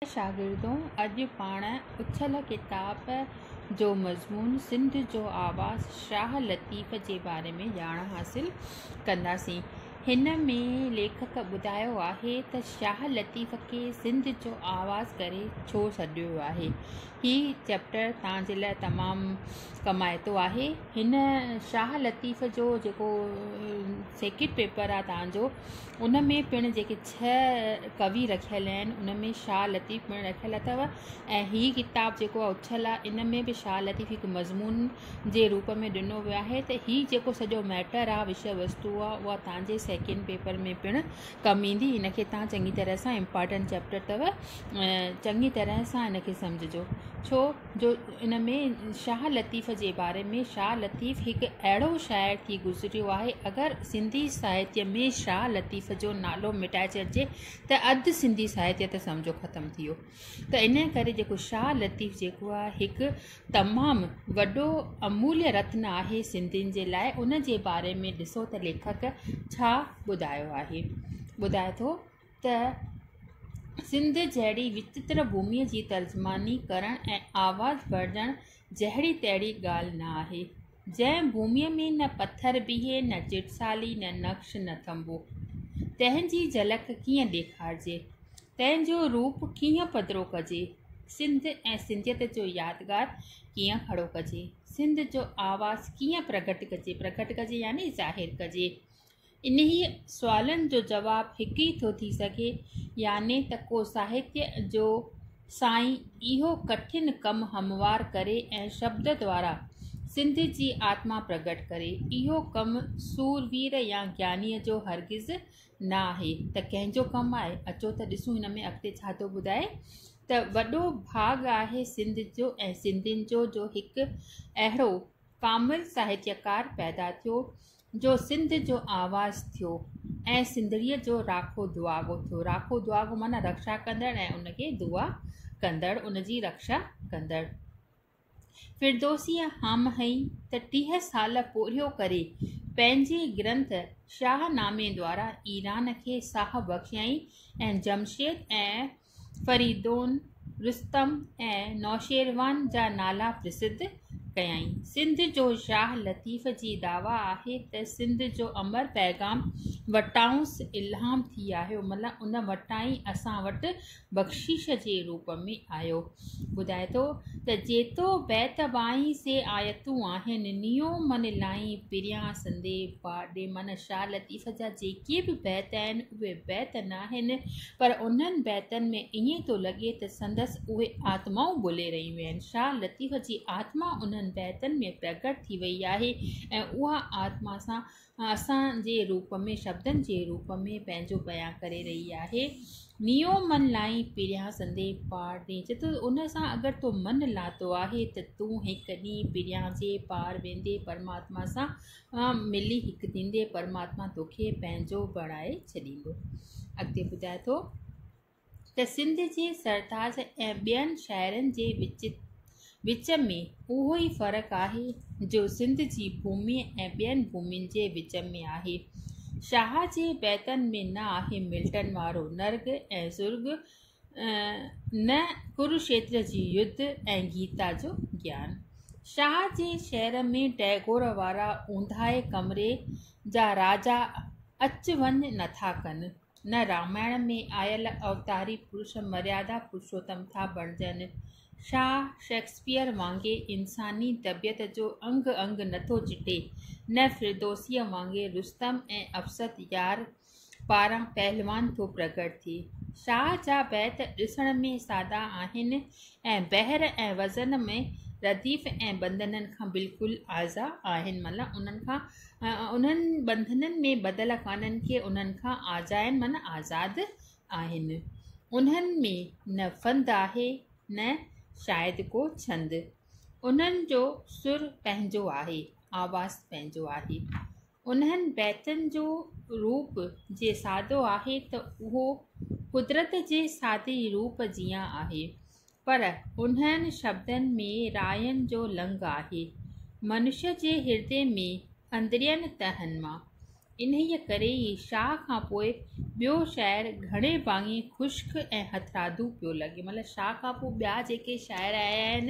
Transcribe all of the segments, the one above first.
اي شاگردو! اڄ پاڻ اڇل ڪتاب جو مضمون سنڌ جو آواز شاهه لطيف جي باري ۾ ڄاڻ حاصل ڪنداسين. هن ۾ ليکڪ ٻڌايو آهي ته شاهه لطيف کي سنڌ جو آواز ڪري ڇو سڏيو ويو آهي. هي چئپٽر توهان جي لاء تمام ڪمائتو آهي. هن شاهه لطيف جو جيڪو سيڪريٽ پيپر آهي توهان جو ان ۾ پڻ جيڪي ڇهه ڪوي رکيل آهن ان ۾ شاهه لطيف پڻ رکيل اٿو ۽ هي ڪتاب جيڪو آهي اڇل آهي ان ۾ به شاهه لطيف هڪ مضمون جي روپ ۾ ڏنو ويو آهي ته هي جيڪو سڄو ميٽر آهي وشي وستو آهي اها تان جي سيڪنڊ پيپر ۾ پڻ ڪم ايندي ان کي تان چڱي طرح سان امپارٽنٽ چيپٽر اٿو چڱي طرح سان ان کي سمجهجو ڇو جو ان ۾ شاهه لطيف جي باري ۾ شاهه لطيف هڪ اهڙو شاعر ٿي گذريو آهي اگر سنڌي ساهتيه ۾ شاهه لطيف جو نالو مٽائي ڇڏجي ته اڌ سنڌي ساهتيه ته سمجهو ختم ٿي ويو ته انهي ڪري جيڪو شاهه لطيف جيڪو آهي هڪ تمام وڏو اموليه رتن آهي سنڌين جي لاء ان جي باري ۾ ڏسو ته ليکڪ ڇا ٻڌايو آهي ٻڌائي ٿو ته سنڌ جهڙي وچتر ڀومي جي ترجماني ڪرڻ ۽ آواز ورجڻ جهڙي تهڙي ڳالهه نه آهي، جنهن ڀومي ۾ نه پٿر بيهي، نه چٽسالي، نه نقش، نه ٿنڀو. تنهن جي جهلڪ ڪيئن ڏيکارجي؟ تنهن جو روپ ڪيئن پڌرو ڪجي؟ سنڌ ۽ سنڌيت جو يادگار ڪيئن کڙو ڪجي؟ سنڌ جو آواز ڪيئن پرگهٽ ڪجي؟ پرگهٽ ڪجي يعني ظاهر ڪجي. انهيء سوالن جو جواب هڪ ئي ٿو ٿي سگهي يعني ته ڪو ساهتيه جو سائين اهو ڪٺن ڪم هموار ڪري ۽ شبد دوارا سنڌ جي آتما پرگهٽ ڪري. اهو ڪم سور وير يا گيانيء جو هرگز نه آهي ته ڪنهن جو ڪم آهي. اچو ته ڏسون هن ۾ اڳتي ڇا ٿو ٻڌائي ته وڏو ڀاڳ آهي سنڌ جو ۽ سنڌين جو جو هڪ اهڙو ڪامل ساهتيڪار پيدا ٿيو جو سنڌ جو آواز ٿيو ۽ سنڌڙيء جو راکو دعاگو ٿيو. راکو دعاگو معنيٰ رڪشا ڪندڙ ۽ ان کي دعا ڪندڙ، ان جي رڪشا ڪندڙ. فردوسيء هام هنئي ته ٽيهه سال پورهيو ڪري پنهنجي گرنٿ شاهه نامي دوارا ايران کي ساهه بخشيائين ۽ جمشيد ۽ فريدون، رستم ۽ نوشيروان جا نالا پرسڌ ڪيائين. سنڌ جو شاهه لطيف جي دعويٰ آهي ته سنڌ جو امر پيغام وٽانئس الهام ٿي آيو مطلب ان وٽان ئي اسان وٽ بخشش جي روپ ۾ آيو. ٻڌائي ٿو ته جيتو بيت ٻائين سي آيتون آهن نيو من لائين پريان سندي باڊي معنيٰ شاهه لطيف جا جيڪي به بيت آهن اهي بيت ناهن پر انهن بيتن ۾ ائين ٿو لڳي ته سندس اهي آتمائون ٻولي رهيون آهن. شاهه لطيف جي آتما انهن بيتن ۾ پرگٽ ٿي وئي آهي ۽ اها آتما اسان جي روپ ۾ شبدن جي روپ ۾ پنهنجو بيان ڪري رهي آهي. نيو من لائين پريان سندي پار ڏي چي ٿو ان سان اگر تو من لاتو آهي ته تون هڪ ڏينهن پريان جي پار ويندي پرماتما سان سان ملي هڪ ٿيندي پرماتما توکي پنهنجو بڻائي ڇڏيندو اڳتي ٻڌائي ٿو ته سنڌ جي سرتاج ۽ ٻين شاعرن جي وچ وچ ۾ اهو ئي فرق آهي جو سنڌ جي ڀومي ۽ ٻين ڀومين جي وچ ۾ آهي شاهه جي بيتن ۾ نه آهي ملٽن وارو نرگ ۽ زرگ نه ڪروشيتر جي يڌ ۽ گيتا جو گيان. شاهه جي شعر ۾ ٽئگور وارا اونداهي ڪمري جا راجا اچ وڃ نٿا ڪن، نه رامائڻ ۾ آيل اوتاري پرش مريادا پرشوتم ٿا بڻجن. شاهه شيڪسپيئر وانگي انساني طبيعت جو انگ انگ نٿو چٽي، نه فردوسيء وانگي رستم ۽ افسد يار پاران پهلوان ٿو پرگهٽ ٿئي. شاهه جا بيت ڏسڻ ۾ سادا آهن ۽ بحر ۽ وزن ۾ رديف ۽ بندنن کان بلڪل آزا آهن معنيٰ انهن کان انهن بندنن ۾ ٻڌل ڪانهن ڪي انهن کان آزا آهن معنيٰ آزاد آهن. انهن ۾ نه فند آهي نه شايد ڪو ڇند. انهن جو سر پنهنجو آهي، آواز پنهنجو آهي. انهن بيتن جو روپ جي سادو آهي ته اهو قدرت جي سادي روپ جيان آهي پر انهن شبدن ۾ راين جو لڱ آهي منشيء جي هردي ۾ اندرين تهن مان انهيء ڪري ئي شاهه کان پوء ٻيو شاعر گهڻي ڀاڱي خشڪ ۽ هٿرادو پيو لڳي مطلب شاهه کان پوء ٻيا جيڪي شاعر آيا آهن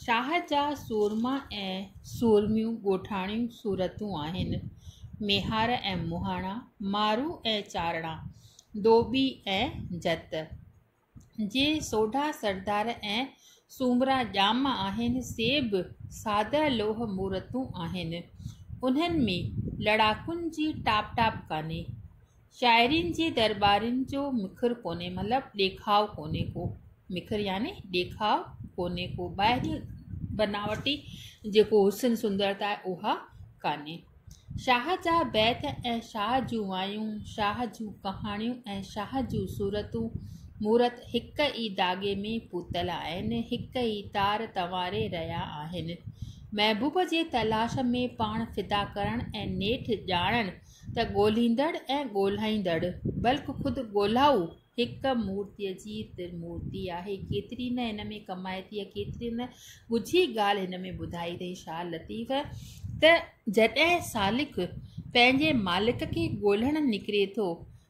شاهه جا سورما ۽ سورميون ڳوٺاڻيون صورتون آهن، ميهار ۽ مهاڻا، مارو ۽ چارڻا، ڌوٻي ۽ جت. جي سوڍا سردار ۽ سومرا ڄام آهن، سي به ساده لوهه مورتون آهن. انهن ۾ لڙاڪن جي ٽاپ ٽاپ ڪانهي. شاعرين جي درٻارين جو مکر ڪونهي مطلب ڏيکاء ڪونهي ڪو مکر يعني ڏيکاء ڪونهي ڪو ٻاهري بناوٽي جيڪو حسن سندرتا آهي اها ڪانهي شاهه جا بيت ۽ شاهه جون وايون شاهه جون ڪهاڻيون ۽ شاهه جون صورتون مورت هڪ ئي داڳي ۾ پوتل آهن هڪ ئي تار تنواري رهيا آهن محبوب جي تلاش ۾ پاڻ فدا ڪرڻ ۽ نيٺ ڄاڻڻ ته ڳولهيندڙ ۽ ڳولهائيندڙ بلڪ خود ڳولهائو هڪ مورتيء جي ترمورتي آهي. ڪيتري نه هن ۾ ڪمائي ٿي ۽ ڪيتري نه ڳجهي ڳالهه هن ۾ ٻڌائي اٿئي شاهه لطيف ته جڏهن سالڪ پنهنجي مالڪ کي ڳولهڻ نڪري ٿو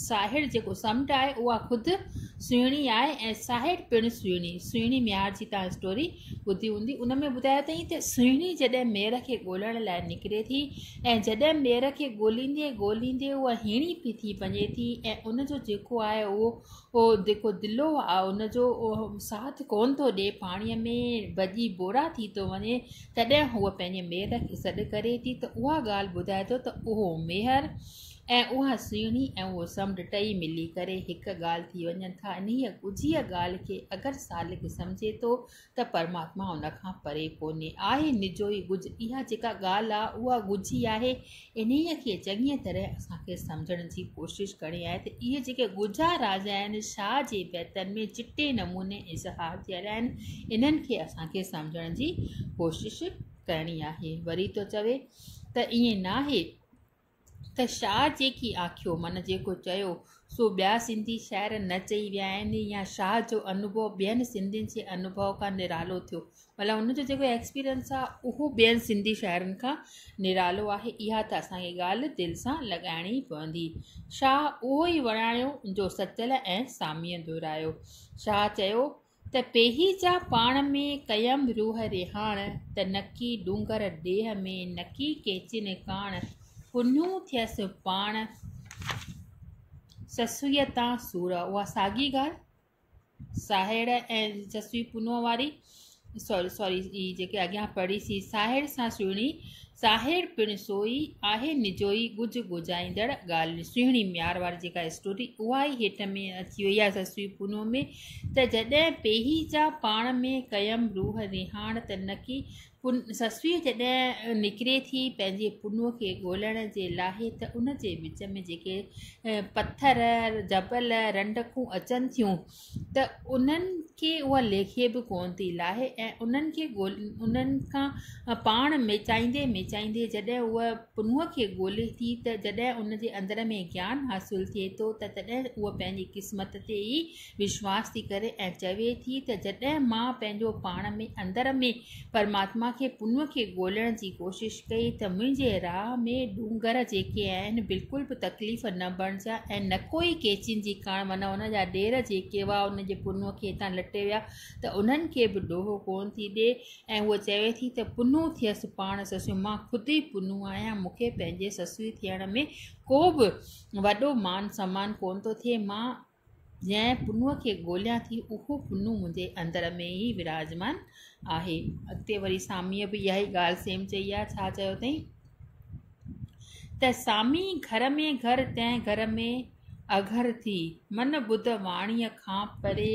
ساهڙ جيڪو سمنڊ آهي اها خود سهڻي آهي ۽ ساهڙ پڻ سهڻي سهڻي ميار جي تان اسٽوري ٻڌي هوندي ان ۾ ٻڌايو اٿئي ته سهڻي جڏهن مير کي ڳولڻ لاء نڪري ٿي ۽ جڏهن مير کي ڳوليندي ڳوليندي اها هيڻي پئي ٿي وڃي ٿي ۽ ان جو جيڪو آهي اهو اهو جيڪو دلو آهي ان جو ساٿ ڪون ٿو ڏي پاڻي ۾ ڀڄي بورا ٿي ٿو وڃي تڏهن هو پنهنجي مير کي سڏ ڪري ٿي ته اها ڳالهه ٻڌائي ٿو ته اهو ميهر ۽ اها سهڻي ۽ اهو سمنڊ ٽئي ملي ڪري هڪ ڳالهه ٿي وڃن ٿا. انهيء ڳجهيء ڳالهه کي اگر سالڪ سمجهي ٿو ته پرماتما ان کان پري ڪونهي. آهي نجوئي ڳجهه. اها جيڪا ڳالهه آهي، اها ڳجهي آهي. انهيء کي چڱيء طرح اسان کي سمجهڻ جي ڪوشش ڪرڻي آهي ته اهي جيڪي ڳجها راز آهن، شاهه جي بيتن ۾ چٽي نموني اظهار ٿيل آهن، انهن کي اسان کي سمجهڻ جي ڪوشش ڪرڻي آهي. وري ٿو چوي ته ائين ناهي. ته شاهه جيڪي آکيو من جيڪو چيو سو ٻيا سنڌي شاعر نه چئي ويا آهن يا شاهه جو انوڀو ٻين سنڌين جي انوڀو کان نرالو ٿيو مطلب ان جو جيڪو ايڪسپيرينس آهي اهو ٻين سنڌي شاعرن کان نرالو آهي اها ته اسانکي ڳالهه دل سان لڳائڻي پوندي شاهه اهو ئي وراڻيو جو سچل ۽ ساميء دهرايو شاهه چيو ته پيهي جا پاڻ ۾، ڪيم روح رهاڻ، ته نڪي ڏونگر ڏيهه ۾، نڪي ڪيچين ڪاڻ، ڪنهيون ٿيس پاڻ، سسئيء تان سور. اها ساڳي ڳالهه ساهڙ ۽ سسئي پنهونء واري، سوري سوري ئي جيڪي اڳيان پڙهي سي، ساهڙ سان سهڻي، ساهڙ پڻ سوئي، آهي نجوئي، ڳجهه ڳجهائيندڙ ڳالهه سهڻي ميار واري جيڪا اسٽوري اها ئي هيٺ ۾ اچي وئي آهي سسئي پنهونء ۾. ته جڏهن پيهي جا پاڻ ۾ قيم روح رهاڻ ته نڪي سسوي جڏهن نڪري ٿي پنهنجي پنو کي ڳولڻ جي لاهي ته ان جي وچ ۾ جيڪي پٿر جبل رنڊڪون اچن ٿيون ته انهن کي اها ليکي به ڪونه ٿي لاهي ۽ انهن کي انهن کان پاڻ ميچائيندي ميچائيندي جڏهن اها پنهونء کي ڳولي ٿي ته جڏهن ان جي اندر ۾ گيان حاصل ٿئي ٿو ته تڏهن هوء پنهنجي قسمت تي ئي وشواس ٿي ڪري ۽ چوي ٿي ته جڏهن مان پنهنجو پاڻ ۾ اندر ۾ پرماتما کي پنهونء کي ڳولڻ جي ڪوشش ڪئي ته منهنجي راهه ۾ ڏونگر جيڪي آهن بلڪل به تڪليف نه بڻجيا ۽ نڪوئي ڪيچين جي ڪاڻ معنيٰ ان جا ڏير جيڪي هئا ان جي پنهونء کي هتان لٽي ويا ته انهن کي به ڏوهه ڪونه ٿي ڏي ۽ هوء چوي ٿي ته پنهون ٿيس پاڻ سسئي، مان خود ئي پنهون آهيان، مون کي پنهنجي سسئي ٿيڻ ۾ ڪو به وڏو مان سمان ڪونه ٿو ٿئي، مان جنهن پنهون کي ڳوليان ٿي، اهو پنهون منهنجي اندر ۾ ئي وراجمان آهي. اڳتي وري ساميء به اها ئي ڳالهه سيم چئي آهي، ڇا چيو اٿئين ته سامي گهر ۾ گهر تنهن گهر ۾ اگهر ٿي، من ٻڌ واڻيء کان پري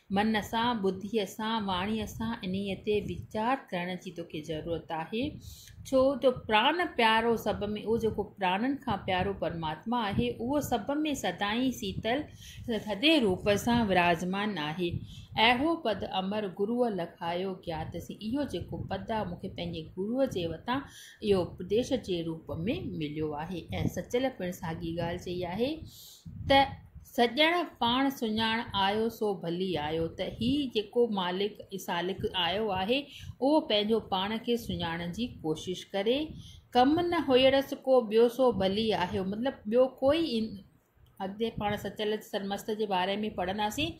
من سان، ٻڌيء سان، واڻيء سان انهيء تي ويچار ڪرڻ جي توکي ضرورت آهي، ڇو جو پراڻ پيارو سڀ ۾ اهو جيڪو پراڻن کان پيارو پرماتما آهي، اهو سڀ ۾ سدائين سيتل، ٿڌي روپ سان وراجمان آهي. اهو پد امر گروء لکايو گيات سين، اهو جيڪو پد آهي، مون کي پنهنجي گروء جي وتان اهو اپديش جي روپ ۾ مليو آهي ۽ سچل پڻ ساڳي ڳالهه چئي آهي، ته سڄڻ پاڻ سڃاڻ آيو سو ڀلي آيو ته هي جيڪو مالڪ سالڪ آيو آهي اهو پنهنجو پاڻ کي سڃاڻڻ جي ڪوشش ڪري ڪم نه هيئڙس ڪو ٻيو سو ڀلي آهيو مطلب ٻيو ڪوئي اڳتي پاڻ سچل سرمست جي باري ۾ پڙهنداسين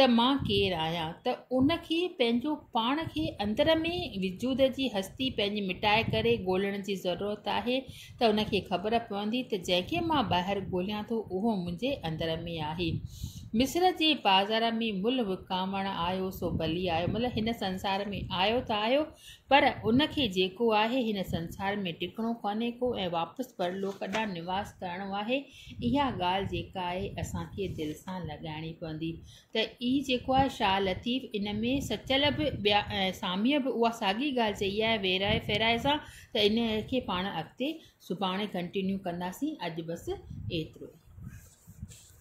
ته مان ڪير آهيان ته ان کي پنهنجو پاڻ کي اندر ۾ وجود جي هستي پنهنجي مٽائي ڪري ڳولڻ جي ضرورت آهي ته ان کي خبر پوندي ته جنهن کي مان ٻاهر ڳوليان ٿو اهو منهنجي اندر ۾ آهي مصر جي بازار ۾ ملهه وڪامڻ آيو سو ڀلي آيو مطلب هن سنسار ۾ آيو ته آيو پر ان کي جيڪو آهي هن سنسار ۾ ٽڪڻو ڪانهي ڪو ۽ واپس پرلوڪ ڏانهن نواس ڪرڻو آهي اها ڳالهه جيڪا آهي اسان کي دل سان لڳائڻي پوندي ته اي جيڪو آهي شاهه لطيف ان ۾ سچل به ٻيا ساميء به اها ساڳي ڳالهه چئي آهي ويرائي ڦيرائي سان ته ان کي پاڻ اڳتي سڀاڻي ڪنٽينيو ڪنداسين اڄ بس ايترو ئي